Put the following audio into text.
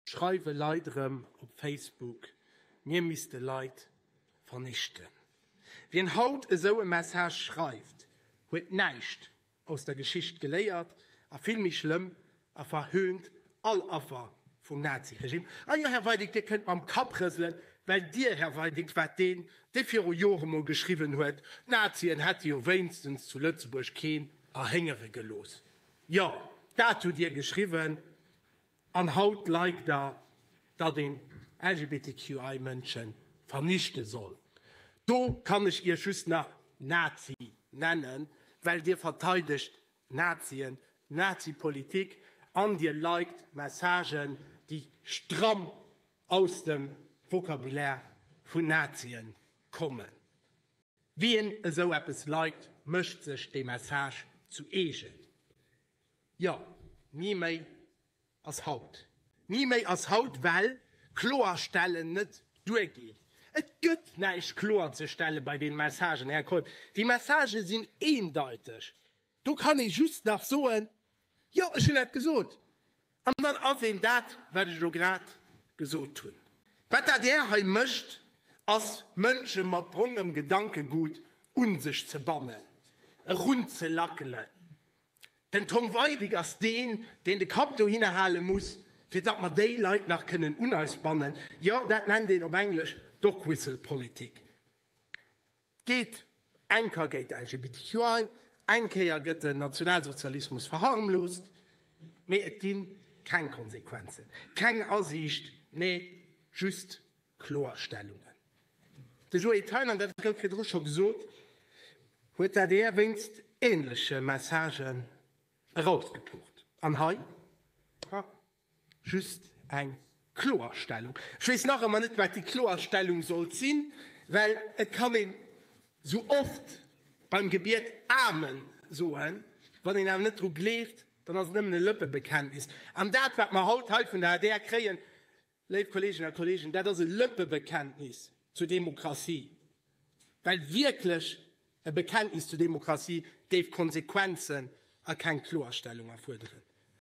Schreiwe Leit erëm op Facebook, mir misste Leit vernichten. Wien haut esou e Message schreift, huet näischt aus der Geschicht geléiert a vill méi schlëmm, e verhöhnt all Affer vum Nazi-Regime. A jo, Här Weidig, Dir kënnt mam Kapp rëselen, well Dir, Här Weidig, waart deen, dee viru Jore mol geschriwwen huet, d'Nazien hätte jo wéinstens zu Lëtzebuerg keen erhéngere gelooss. Jo, dat hutt Dir geschriwwen. An haut like der, datt een LGBTQI Mënschen vernichte soll. Do kann ech iech just nach Nazi nennen, well dir verteidegt Nazien, Nazi Politik an dir liked Messagen déi stramm aus dem Vocabulaire vun Nazien kommen. Wien esou eppes liked, mécht sech dee Message zu eegen. Jo, ni méi ass haut. Ni méi ass haut, well Kloerstellen net duergeet. Et gëtt näischt kloerzestelle bei deene Messagen, Här Koepp. Déi Messagë sinn eendeiteg. Do kann ee just nach soen, Jo, ech hunn dat gesot. An dann ass een dat, wat ech elo grad gesot hunn. Wat d'ADR hei mécht, ass, Mënsche mat brongem Gedankegut un sech ze bannen, erunzelackelen. Den Tom Weidig ass deen, deen de Kapp dohinner hale muss, fir datt mer déi Leit nach kënnen un eis bannen. Jo, dat nennt een op Englesch Dogwhistle-Politik. D'geet eng ka géint LGBTQI, eng Kéier gëtt den Nationalsozialismus verharmloost, mee et gi keng Konsequenzen, keng Asiicht, mee just Kloerstellungen. De Joé Thein, an dat gouf virdru scho gesot, huet dat eer wéinst änleche Messagen erausgepucht. An hei? Just eng Kloerstellung. Ech weess nach ëmmer net, wat déi Kloerstellung sollt sinn, well et kann een esou oft beim Gebiet Amen soen, wann een awer net dru gleeft, dann ass et nëmmen e Lëppebekenntnis. An dat, wat mer haut hei vun der adr kréien, léif Kolleeginnen a Kolleegen, dat ass e Lëppebekenntnis zur Demokratie, well wierklech e Bekenntnis zur Demokratie géif Konsequenzen a keng Kloerstellung erfuerderen.